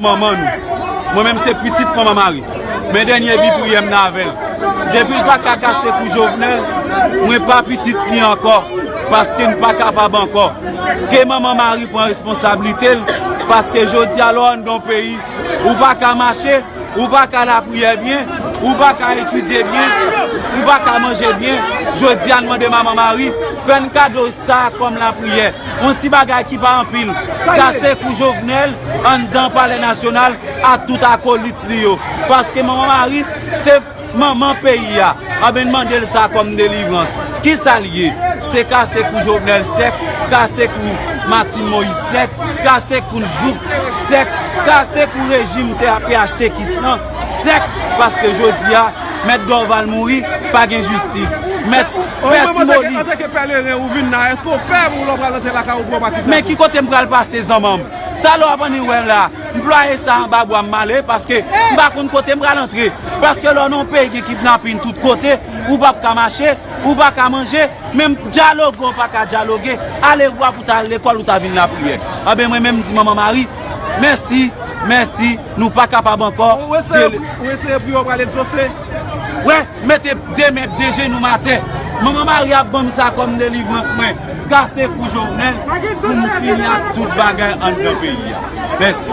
Manman nou. Mwen menm se pitit manman mari. Men dènye bi priyè m nan avè l. Depi l pa ka kase kou Jovenel, mwen pa pitit li ankò paske n pa kapab ankò. Ke manman mari pran responsablite l paske jodi a lè w anndan yon peyi, ou pa ka mache, ou pa ka lapriyè byen, ou pa ka etidye byen, ou pa ka manje byen. Jodi a n mande manman mari fè n kado sa kòm lapriyè. On ti bagay ki pa anpil kase kou Jovenel anndan palè nasyonal ak tout akolit li yo. Paske manman Maryse se manman peyi a. Anben n mande l sa kòm delivrans. Ki sa l ye? Se kase kou Jovenel sèk, kase kou Martine Moïse sèk, kase kou n jouk sèk, kase kou rejim TAPHTKis lan. Sèk paske jodia mèt Dorval mouri pa gen jistis. Mèt pè Simoni. Antan ke pèleren ou vin la eske ou pè pou lè ou pral rantre lakay ou pou yo pa kidnape ou. Men ki kote m pral pase zanmanm. Talè w ap annik wè m la. Mplwaye sa anba bwa m male paske m pa konn kote m pral antre. Paske lè w nan yon peyi gen kidnapin tout kote ou pap ka mache, ou pa ka manje, menm dyaloge ou pa ka dyaloge, alevwa pou ta al lekòl ou ta vin lapriyè. Anben mwen menm m di Manman Mari mèsi, mèsi. Nou pa kapab ankò Ou eseye pou yo pral egzose Wè mete de men de jenou atè Manman Maria banm sa kòm delivrans mwen Kase kou Jovenel pou m fini ak tout bagay anndan peyi a Mèsi.